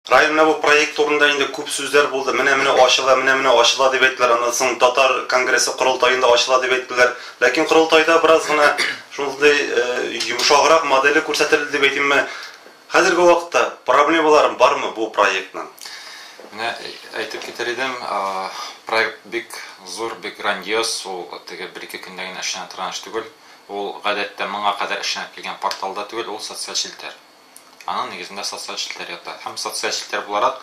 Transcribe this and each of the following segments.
Районда бу проект турында инде күп сүзләр булды, менә-менә ачыла, менә-менә ачыла дип әйттеләр, аннан соң татар конгрессы корылтаенда ачыла дип әйттеләр. Ләкин корылтайда бераз гына шундый йомшаграк моделе күрсәтелде дип әйтимме, хәзерге вакытта проблемалары бармы бу проектның? Менә әйтеп китәр идем, проект бик зур, бик грандиоз, ул теге бер-ике көндә генә эшләнә торган эш түгел. Ул, гадәттә, моңа кадәр эшләнеп килгән портал да түгел, ул социаль челтәр. Аның нигезендә социаль челтәр ята. Һәм социаль челтәр буларак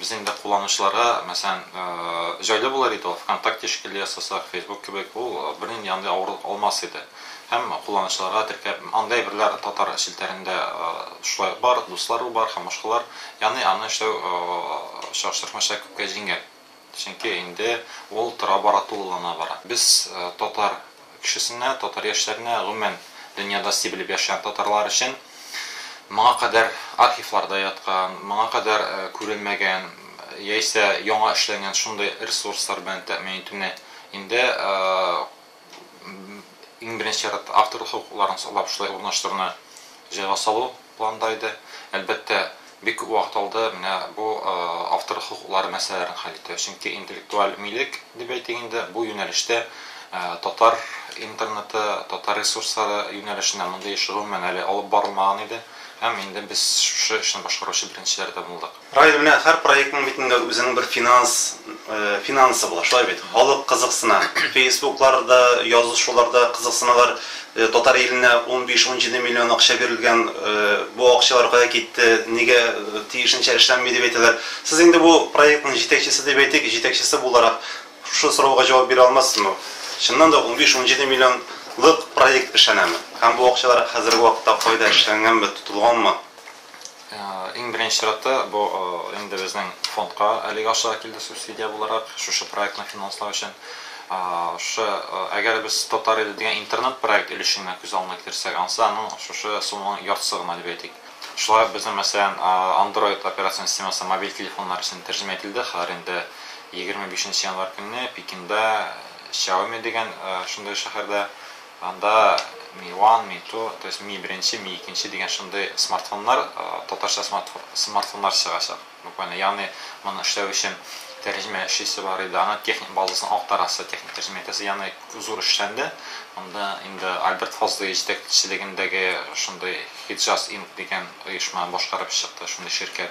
безнең дә кулланучыларга, мәсәлән, э, җайлы булыр иде ул, ВКонтакте шикелле ясасак, Facebook кебек, ул э, бернинди андый авырлык алмас иде. Һәм кулланучыларга теркәп, анда әйберләр татар челтәрендә э, шулай бар, дуслару бар һәм башкалар. Яны аны эшләү э, чагыштырмача күпкә җиңел. Чөнки инде ул тора-бара тулылана бара. Без татар кешесенә, татар яшьләренә, гомумән, дөньяда сти белеп яшәгән татарлар өчен моңа кадәр архивларда яткан, моңа кадәр күрелмәгән яисә яңа эшләнгән шундый ресурслар белән тәэмин итүне инде Иң беренче чиратта авторлык хокукларын саклап шулай урнаштыруны җайга салу планда иде. Әлбәттә, бик күп вакыт алды менә бу авторлык хокуклары мәсьәләләрен хәл итү. Чөнки интеллектуаль милек дип әйтик инде, бу юнәлештә татар интернеты, татар ресурслары юнәлешенә мондый эш гомумән әле алып барылмаган иде. Һәм инде без шушы эшне башкаручы беренчеләр дә булдык. Рая, менә һәр проектның бит инде үзенең бер финанс, финансы була, шулай бит? Халык кызыксына, фейсбукларда, язышуларда кызыксыналар, татар иленә унбиш, унҗиде миллион акча бирелгән, бу акчалар кая китте, нигә тиешенчә эшләнми, дип әйтәләр. Сез инде бу проектның җитәкчесе дип әйтик, җитәкчесе буларак, шушы сорауга җавап бирә алмассызмы? Чыннан да унбиш, унҗиде миллионлык проект эшләнәме? Һәм бу акчалар хәзерге вакытта кайда, эшләнгәнме, тотылганмы? Иң беренче чиратта, бу инде безнең фондка әлеге акчалар килде субсидия буларак, шушы проектны финанслау өчен. Шушы, әгәр без Татар иле дигән интернет проект өлешен генә күз алдына китерсәк, анысы аның шушы сумманың яртысы гына дип әйтик. Шулай ук безнең, мәсәлән, Android операцион системасы мобиль телефоннар өчен тәрҗемә ителде, хәзер инде 25 нче январь көнне Пекинда Xiaomi дигән шундый шәһәрдә Анда Mi One, Mi Two, то есть Mi беренче, Mi икенче дигән шундый смартфоннар, татарча смартфоннар чыгачак, буквально. Ягъни моны эшләү өчен тәрҗемә эшлисе бар иде, аның техник базасын актарасы, техник тәрҗемә итәсе, ягъни күп зур эшләнде. Монда инде Альберт Фазлый җитәкчелегендәге шундый Hijaz Inc дигән оешма башкарып чыкты, шундый ширкәт.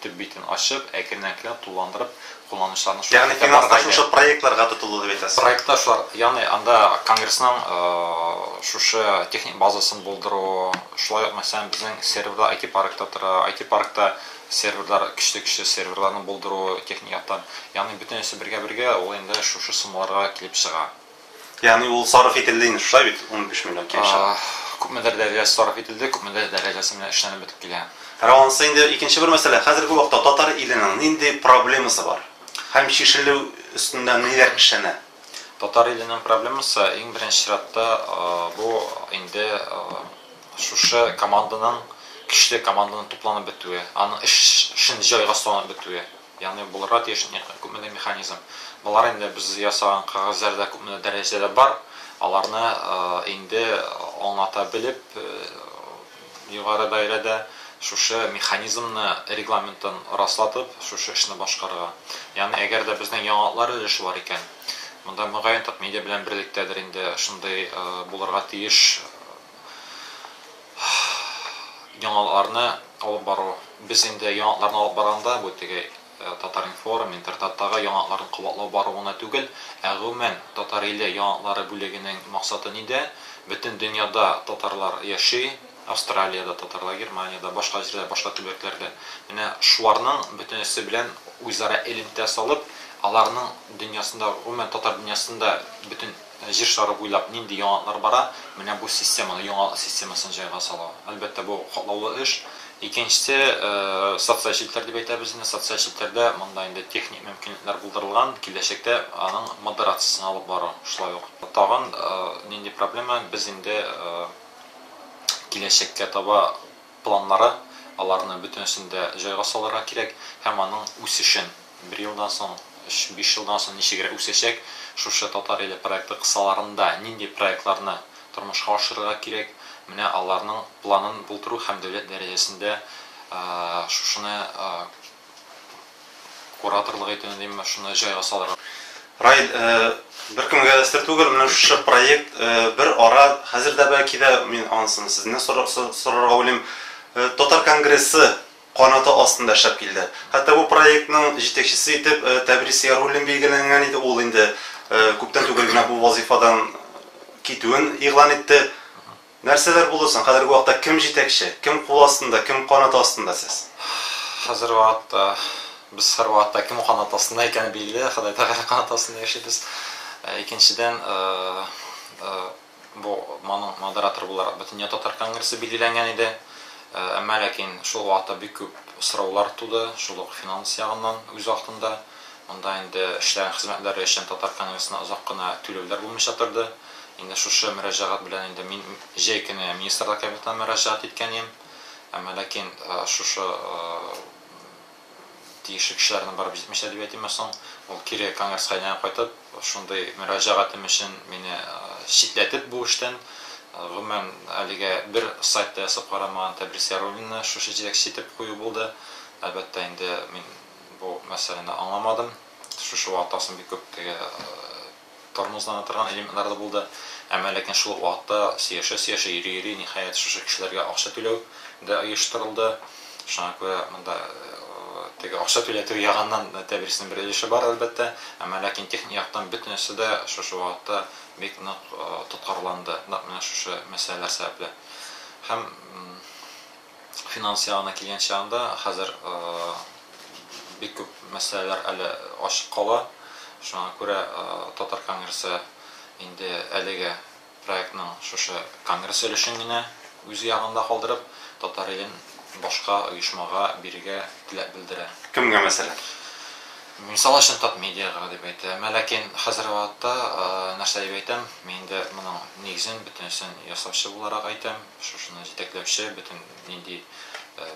Төп битен ачып, әкрен-әкрен тулыландырып, кулланучыларны шул Ягъни финанс та шушы проектларга тотылды дип әйтәсез? Проектта шулар, ягъни анда конгрессның шушы техник базасын булдыру, шулай ук, мәсәлән, безнең серверлар IT-паркта тора, IT-паркта серверлар, көчле-көчле серверларны булдыру техник яктан. Ягъни бөтенесе бергә-бергә ул инде шушы суммаларга килеп чыга. Ягъни ул сарыф ителде инде, шулай бит, 15 миллион килешә. Күпмедер дәрәҗәсе сарыф ителде, күпмедер дәрәҗәсе менә эшләнеп бетеп килә. Калганысы инде икенче бер мәсьәлә. Хәзерге вакытта татар иленең нинди проблемасы бар? Һәм чишелү өстендә ниләр эшләнә? Татар иленең проблемасы, иң беренче чиратта, бу инде шушы команданың, көчле команданың тупланып бетүе, аның эшен җайга салынып бетүе. Ягъни булырга тиеш күпмедер механизм. Болар инде без ясаган кәгазьләрдә күпмедер дәрәҗәдә бар. Аларны инде аңлата белеп, югары даирәдә шушы механизмны регламентын раслатып, шушы эшне башкарырга. Ягъни әгәр дә безнең яңалыклар өлеше бар икән, монда мөгаен так медиа белән берлектәдер инде шундый булырга тиеш яңаларны алып бару. Без инде яңаларны алып барганда, бу теге Татар-информ, Интертаттагы яңаларны кабатлау бару гына түгел, ә гомумән Татар-иле яңалары бүлегенең максаты нидә? Бөтен дөньяда татарлар яши, Австралиядә татарлар, Германиядә, башка җирдә, башка төбәкләрдә. Менә шуларның бөтенесе белән үзара элемтә салып, аларның дөньясында, гомумән татар дөньясында бөтен Җир шары буйлап нинди яңалыклар бара? Менә бу системаны, яңалык системасын җайга салу. Әлбәттә, бу катлаулы эш. Икенчесе, социаль челтәр дип әйтәбез инде. Социаль челтәрдә монда инде техник мөмкинлекләр булдырылган, киләчәктә аның модерациясен алып бару. Шулай ук тагын нинди проблема, без инде киләчәккә таба, планнары, аларны бөтенесен дә җайга салырга кирәк һәм аның үсешен, бер елдан соң, өч, биш елдан соң ничегрәк үсәчәк, шушы Татар иле проекты кысаларында нинди проектларны тормышка ашырырга кирәк, менә аларның планын булдыру һәм дәүләт дәрәҗәсендә шушыны Кураторлык итүне дим мә шуны җайга салырга. Раил, беркемгә дә сер түгел, менә шушы проект бер ара, хәзер дә бәлки дә, мин анысыны сезне сорарга уйлыйм, татар конгрессы канаты астында эшләп килде. Хәтта бу проектның җитәкчесе итеп Тәбрис Яруллин билгеләнгән иде, ул инде күптән түгел генә бу вазыйфадан китүен игълан итте. Нәрсәләр булды соң? Хәзерге вакытта кем җитәкче? Кем кул астында, кем канаты астында сез? Хәзерге вакытта без һәрвакытта кем канаты астында икәне билгеле, Ходай Тәгалә канаты астында яшибез. Икенчедән, бу моның модераторы буларак Бөтендөнья татар конгрессы билгеләнгән иде. Әмма ләкин шул вакытта бик күп сораулар туды, шул ук финанс ягыннан үз вакытында. Монда инде эшләгән хезмәтләре өчен Татар Конгрессына озак кына түләүләр булмыйча торды. Инде шушы мөрәҗәгать белән инде мин җәй көне Министрлар Кабинетына мөрәҗәгать иткән идем. Әмма ләкин шушы тиешле кешеләрнең барып җитмичә дип әйтимме соң, ул кире Конгресска әйләнеп кайтып, шундый мөрәҗәгатем өчен мине читләтеп бу эштән, гомумән, әлегә бер сайт та ясап карамаган Тәбрис Яруллинны шушы җитәкче итеп кую булды. Әлбәттә инде мин Бу мәсьәләне аңламадым. Шушы вакытта соң бик күп теге тормозлана торган элементлар да булды. Әмма ләкин шул ук вакытта сөяшә-сөяшә, йөри-йөри, ниһаять, шушы кешеләргә акча түләү дә оештырылды. Шуңа күрә монда теге акча түләтү ягыннан тәдриснең бер өлеше бар, әлбәттә. Әмма ләкин техник яктан бөтенесе дә шушы вакытта бик нык тоткарланды, нәкъ менә шушы мәсьәләләр сәбәпле. Һәм Финанс ягына килгән чагында, хәзер бик күп мәсьәләләр әле ачык кала. Шуңа күрә Татар конгрессы инде әлеге проектның шушы конгресс өлешен генә үз ягында калдырып, Татар илен башка оешмага бирергә теләк белдерә. Кемгә, мәсәлән? Мисал өчен Татмедиага дип әйтә. Мә ләкин хәзерге вакытта нәрсә дип әйтәм, мин инде моның нигезен, бөтенесен ясаучы буларак әйтәм. Шушыны җитәкләүче бөтен нинди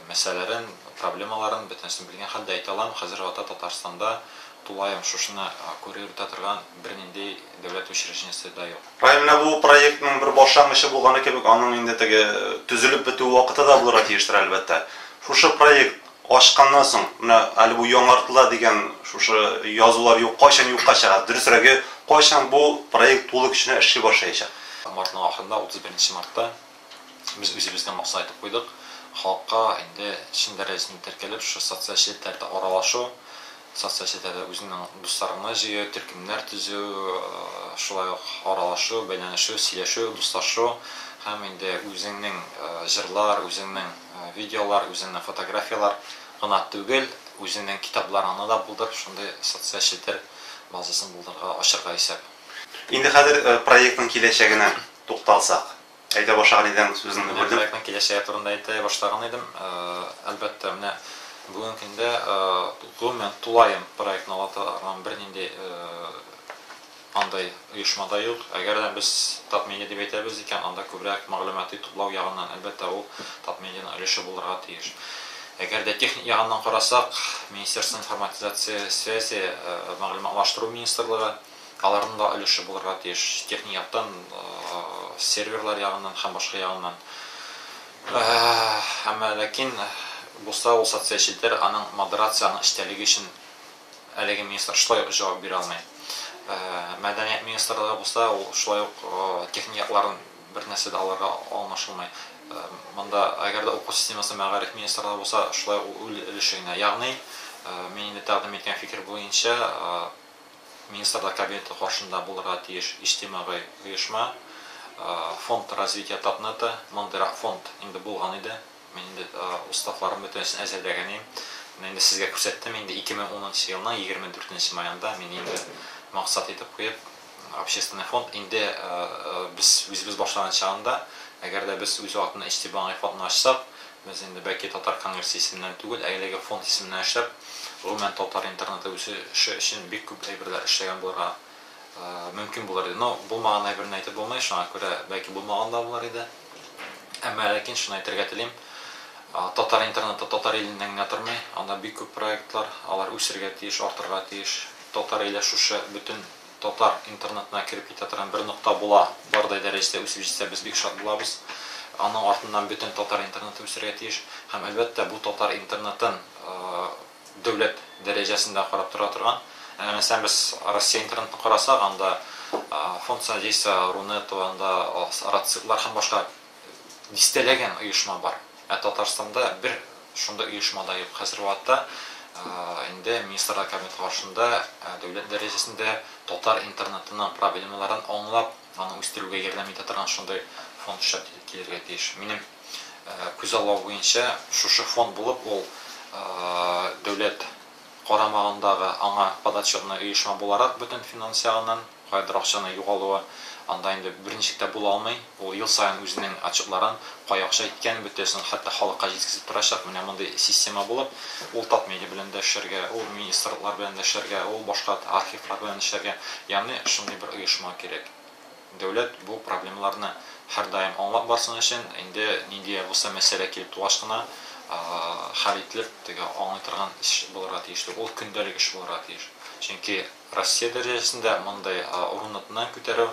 мәсьәләләрен, проблемаларын бөтенесен белгән хәлдә әйтә алам, хәзер вакытта Татарстанда тулаем шушыны күрер үтә торган бернинди дәүләт учреждениесе дә юк. Ә менә бу проектның бер башлангычы булганы кебек, аның инде теге төзелеп бетү вакыты да булырга тиештер, әлбәттә. Шушы проект Ачканнан соң, менә әле бу яңартыла дигән шушы язулар юк, кайчан юкка чыга? Дөресрәге, кайчан бу проект тулы көченә эшли башлаячак? Мартның ахырында, 31 мартта без үзебезгә максат итеп куйдык, халыкка инде чын дәрәҗәсендә теркәлеп, шушы социаль челтәрдә аралашу, Социаль челтәрдә үзеңнең дусларыңны җыю, төркемнәр төзү, шулай ук аралашу, бәйләнешү, сөйләшү, дуслашу һәм инде үзеңнең җырлар, үзеңнең видеолар, үзеңнең фотографияләр гына түгел, үзеңнең китапларыңны да булдырып, шундый социаль челтәр базасын булдырырга, ачырга исәп. Инде хәзер проектның киләчәгенә тукталсак. Әйдә башлар идең сүзен Менә бүлдем. проектның киләчәге турында әйтә башлаган идем. Әлбәттә, менә бүгенге көндә гомумән тулаем проектны аңлата торган бернинди андый оешма да юк. Әгәр дә без Татмедиа дип әйтәбез икән, анда күбрәк мәгълүмати туплау ягыннан, әлбәттә, ул Татмедианың өлеше булырга тиеш. Әгәр дә техник ягыннан карасак, Министерство информатизации и связи, мәгълүматлаштыру министрлыгы, Аларның да өлеше булырга тиеш, техник яктан, серверлар ягыннан һәм башка ягыннан. Әмма ләкин булса ул социаль челтәр аның модерация, аның эчтәлеге өчен әлеге министр шулай ук җавап бирә алмый. Мәдәният министрлыгы булса ул шулай ук техник якларын бернәрсә дә алырга алмашылмый. Монда әгәр дә уку системасы мәгариф министрлыгы булса шулай ук үл өлеше генә. Ягъни мин инде тәкъдим иткән фикер буенча Министрлар Кабинеты каршында булырга тиеш иҗтимагый оешма, Фонд развития Татнета, мондыйрак фонд инде булган иде. Мин инде уставларын бөтенесен әзерләгән идем. Менә инде сезгә күрсәттем, инде 2010 нчы елның 24 нче маенда мин инде максат итеп куеп, общественный фонд инде без үзебез башлаган чагында, әгәр дә без үз вакытында иҗтимагый фондны ачсак, Без инде бәки Татар конгрессы исеменнән түгел, ә әлеге фонд исеменнән эшләп, гомумән татар интернеты үсеше өчен бик күп әйберләр эшләгән булырга мөмкин булыр иде. Но булмаган әйберне әйтеп булмый, шуңа күрә бәки булмаган да булыр иде. Әмма ләкин шуны әйтергә телим, татар интернеты татар иленнән генә тормый, анда бик күп проектлар, алар үсергә тиеш, артырга тиеш. Татар иле шушы бөтен татар интернетына кереп китә торган бер нокта була, бардай дәрәҗәдә үсеп җитсә, без бик шат булабыз. Аның артыннан бөтен татар интернеты үсәргә тиеш. Һәм, әлбәттә, бу татар интернетын дәүләт дәрәҗәсендә карап тора торган. Әгәр мәсәлән без Россия интернетын карасак, анда Фонд содействия Рунета, анда Рациклар һәм башка дистәләгән оешма бар. Ә Татарстанда бер шундый оешма да юк. Хәзерге вакытта инде Министрлар Кабинеты каршында дәүләт дәрәҗәсендә татар интернетының проблемаларын аңлап, аны үстерүгә ярдәм итә торган шундый фонд эшләп килергә тиеш. Минем күзаллау буенча, шушы фонд булып ул дәүләт карамагындагы аңа подотчетный оешма буларак бөтен финанс ягыннан, Каядыр акчаның югалуы анда инде берничек тә була алмый. Ул ел саен үзенең отчетларын, кая акча киткәнен бөтәсен, хәтта халыкка җиткезеп торачак. Менә мондый система булып, ул Татмедиа белән дә эшләргә, ул министрлыклар белән дә эшләргә, ул башка архивлар белән эшләргә. Ягъни шундый бер оешма кирәк. Дәүләт бу проблемаларны һәрдаим аңлап барсын өчен, инде нинди дә булса мәсьәлә килеп тугач кына хәл ителеп, теге аңлый торган эш булырга тиеш түгел. Ул көндәлек эш булырга тиеш. Чөнки. Россия дәрәҗәсендә мондый урынныкны күтәрү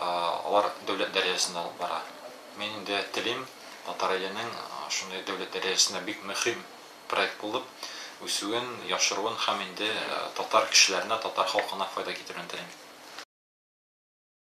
алар дәүләт дәрәҗәсендә алып бара. Мин инде телим, Татар иленең шундый дәүләт дәрәҗәсендә бик мөһим проект булып үсүен, яшыруын һәм инде татар кешеләренә, татар халкына файда китерүен телим.